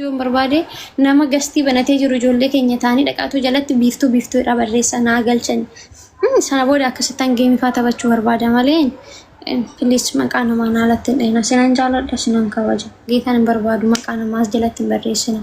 yoon barbaade nama gastii banatee jiru ijoollee keenya ta'anii dhaqaatuu jalatti biiftuu biiftuu irraa barreessa naa galchan. Sana booda akkasittan geemifaa taphachuu barbaada malee piliis maqaa namaa naa latti hin dhahina. Sinan jaaladha sinan kabaja. Geetaan hin barbaadu maqaa namaas jalatti hin barreessina.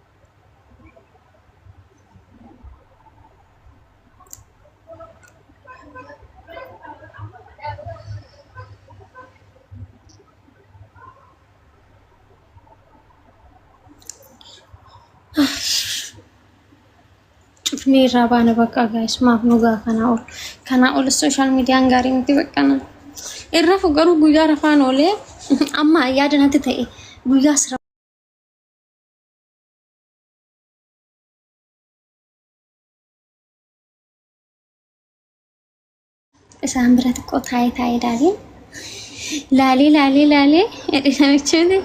cufnee irraa baana bakka gaa'is maaf nu gaa kanaa ol kanaa ol sooshaal miidiyaan gaarii miti baqqana irra fu garuu guyyaa rafaan oolee amma yaada natti ta'e guyyaa sira isaan bira xiqqoo taa'ee taa'ee ilaalee laalee laalee laalee jedhe namichini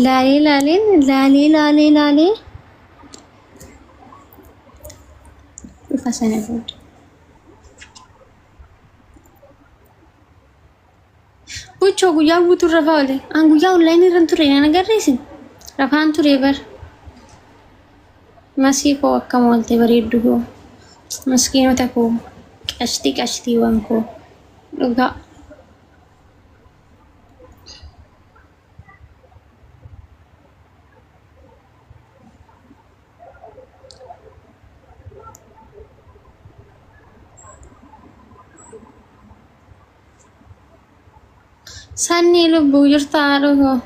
laalee laalee laalee laalee laalee dhufa sana booda. Buchoo guyyaa guutuu rafaa oole. An guyyaa online irra hin turre na agarreesin. Rafaan ture bar. Masii koo akkam oolte bareeddu koo. Miskiinota koo. Qashtii qashtiiwwan koo. Dhugaa. Sannii lubbuu jirta haadhoo koo.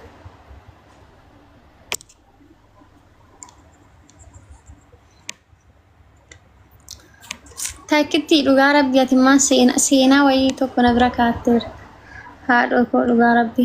Takkitti dhugaa rabbi ati immoo seena- seenaa wayii tokko na bira kaatteera. Haadhoo koo dhugaa rabbi.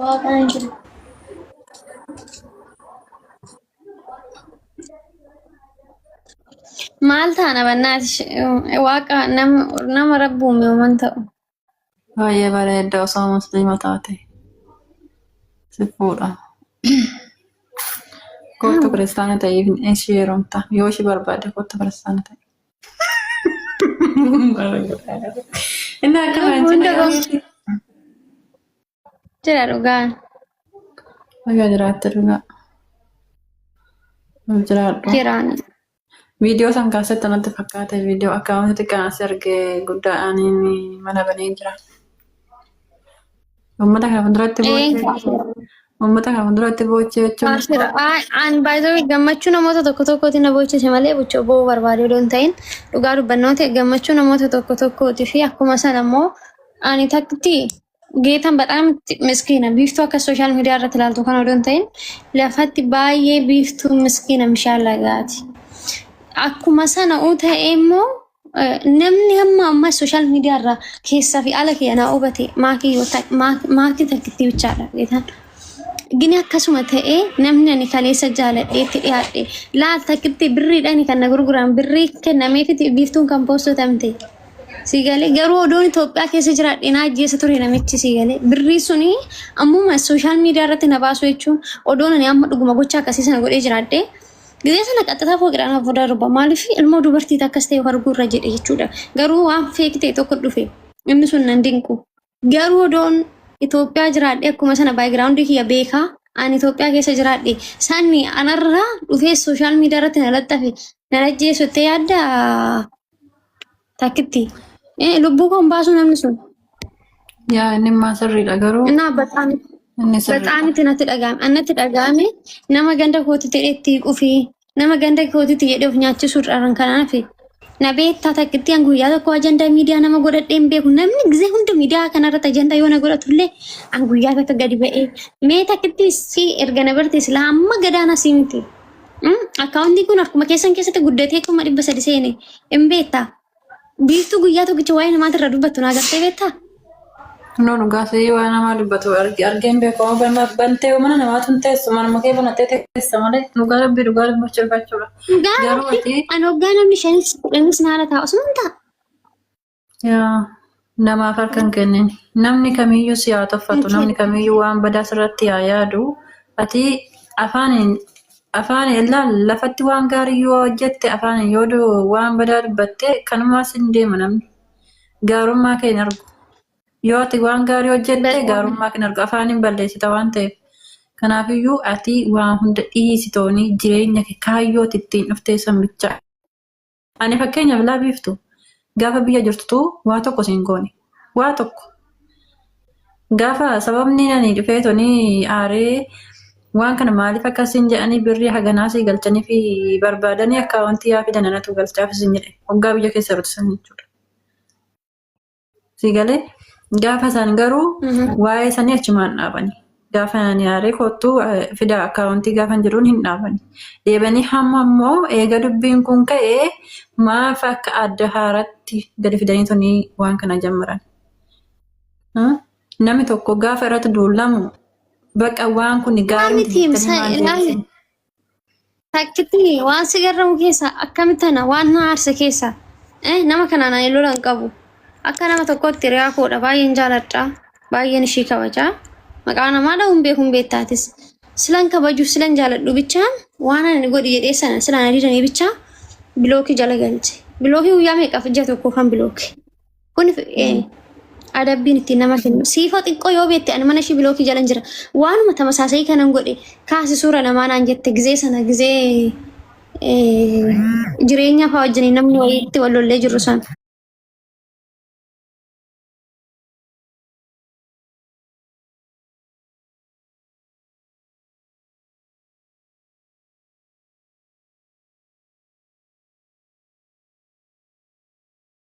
Waaqaan jira. Maal taana bannaati waaqa nama nama rabbi uume uuman ta'u. Baay'ee bareedda osoo musliima taate si fuudha. Kottu kiristaana ta'iif ishii heerumta. Yoo ishii barbaadde kottu kiristaana ta'i. Inni akka Hunda baanjina gosa jira dhugaan. Nagaa jiraatte dhugaa. Ol jiraadhu. Jiraan. Viidiyoo san kaasetta natti fakkaate viidiyoo akka wanti xiqqaan asi arge guddaadhaan inni mana banee jira. Uummata kana fuulduratti Ee, boochee kaafira. uummata kana fuulduratti boochee jechuun Kaafira. Ay- An baay'ee gammachuu namoota tokko tokkooti na boochise malee buchoo boo'uu barbaaduu odoo hin ta'in dhugaa dubbannoo ta'e gammachuu namoota tokko tokkooti fi akkuma sana immoo ani takkitti geetan badhaam miskiina biiftuu akka sooshaal miidiyaa irratti ilaaltu kan odoo hin ta'in lafatti baay'ee biiftuu miskiina mishaallagaati. Akkuma sana uu ta'e immoo Namni hamma ammaa sooshaal miidiyaa irraa keessaa fi ala kiyya naa hubate maakii yoo ta'e maakii takkitti bichaadha beekan. Gini akkasuma ta'ee namni ani kaleessa jaaladhee itti dhiyaadhe laal takkitti birriidhaan kan na gurguran birrii kennameefiti biiftuun kan poostotamte. Sii galee garuu odoon Itoophiyaa keessa jiraadhe naa ajjeessa ture namichi sii galee birrii suni ammuma sooshaal miidiyaa irratti na baasuu jechuun odoon ani amma dhuguma gocha akkasii sana godhee jiraadhe Gizee sana qaxxataa fooqidhaan hafu darba. Maaliif ilmoo dubartii takkas ta'e arguu irra jedhe jechuudha. Garuu waan feeki ta'e tokko dhufe. Inni sun nan dinqu. Garuu odoon Itoophiyaa jiraadhe akkuma sana baayigiraawundii kiyya beekaa ani Itoophiyaa keessa jiraadhe sanni anarraa dhufee sooshaal miidiyaa irratti na laxxafe nan ajjeesu jettee yaaddaa? Takkitti. Eh, lubbuu koon baasuu namni sun. Yaa inni immaa sirriidha garuu Innaa baxaami. inni sirriidha. Baxaamitti natti dhaga'ame. Annatti dhaga'ame nama ganda kootitti jedhee itti qufi. Nama ganda kootitti jedhee of nyaachisuu dharan kanaaf. Na beektaa takkitti an guyyaa tokko ajandaa miidiyaa nama godhadhee hin beeku. Namni gisee hunda miidiyaa kanarratti ajandaa yoo na godhatullee an guyyaa takka gadi ba'ee. Mee takkitti si erga na barte silaa amma gadaana si miti. Akkaawuntiin kun harkuma keessan keessatti guddatee kuma dhibba sadi seene hin beektaa? Biiftuu guyyaa tokkicha waa'ee namaati irra dubbattu naa gartee beektaa? No dhugaa sa'ii waa namaa dubbatu arge argeen beekamu banna bantee mana namaatu hin teessu manuma kee banattee teessa malee dhugaa rabbii dhugaa dubbachuu jechuudha. Garuu Gaaruu ati an hoggaa namni shanis kudhanis naara taa'u sun ta'a. Yaa namaaf harka hin kennin. Namni kamiyyuu si haa tuffatu, namni kamiyyuu waan badaa sirratti haa yaadu. Ati afaaniin afaan illaan lafatti waan gaarii yoo hojjette afaaniin yoo du- waan badaa dubbatte kanumaa sin deema namni. Gaarummaa kee hin argu. Yoo ati waan gaarii hojjette Beekan. gaarummaa kee hin argu. Afaaniin balleessita waan ta'eef. Kanaafiyyuu ati waan hunda dhiisi toonii jireenya kee kaayyoo ati ittiin dhuftee san bichaa Ani fakkeenyaaf laa biiftu gaafa biyya jirtutu waa tokko siin goone. Waa tokko. Gaafa sababni ani dhufee tonii aaree waan kana maaliif akka siin jedhanii birrii haganaa sii galchanii fi barbaadanii akkaawwantii yaa fidan anatu galchaaf siin jedhe. Hoggaa biyya keessa jirtu san jechuudha. Si galee gaafa isaan garuu waa'ee sanii achumaan dhaabani. Gaafa ani aaree kottu fidaa akkaawuntii gaafa jedhuun hin dhaabani. Deebanii hamma immoo eega dubbiin kun ka'ee maaf akka adda haaratti gadi fidanii tunii waan kana jammaran. Namni tokko gaafa irratti duulamu baqa waan kun gaarii miti jettanii waan deebisan. Takkitti waan si garramu keessa akkamitti tana waan na aarse keessa eh, nama kanaan ani lola hin qabu. Akka nama tokkotti hiriyaa koodha baay'een jaaladha baay'een ishii kabaja. Maqaa namaa dha'uun beekuun beektaatis. Silan kabajuuf silan jaaladhu bichaa waan ani godhi jedhee sana silaan adidanii bichaa bilookii jala galche. Bilookii guyyaa meeqaaf ija tokko kan bilooke. Kun eh, adabbiin ittiin nama kennu. Siifoo xiqqoo yoo beekte ani mana ishii bilookii jalan jira. Waanuma tamasaasa'ii kanan godhe kaasi suura namaa naan jette gizee sana gizee eh, jireenyaa fa'aa wajjin namni wayiitti wal lollee jirru sana.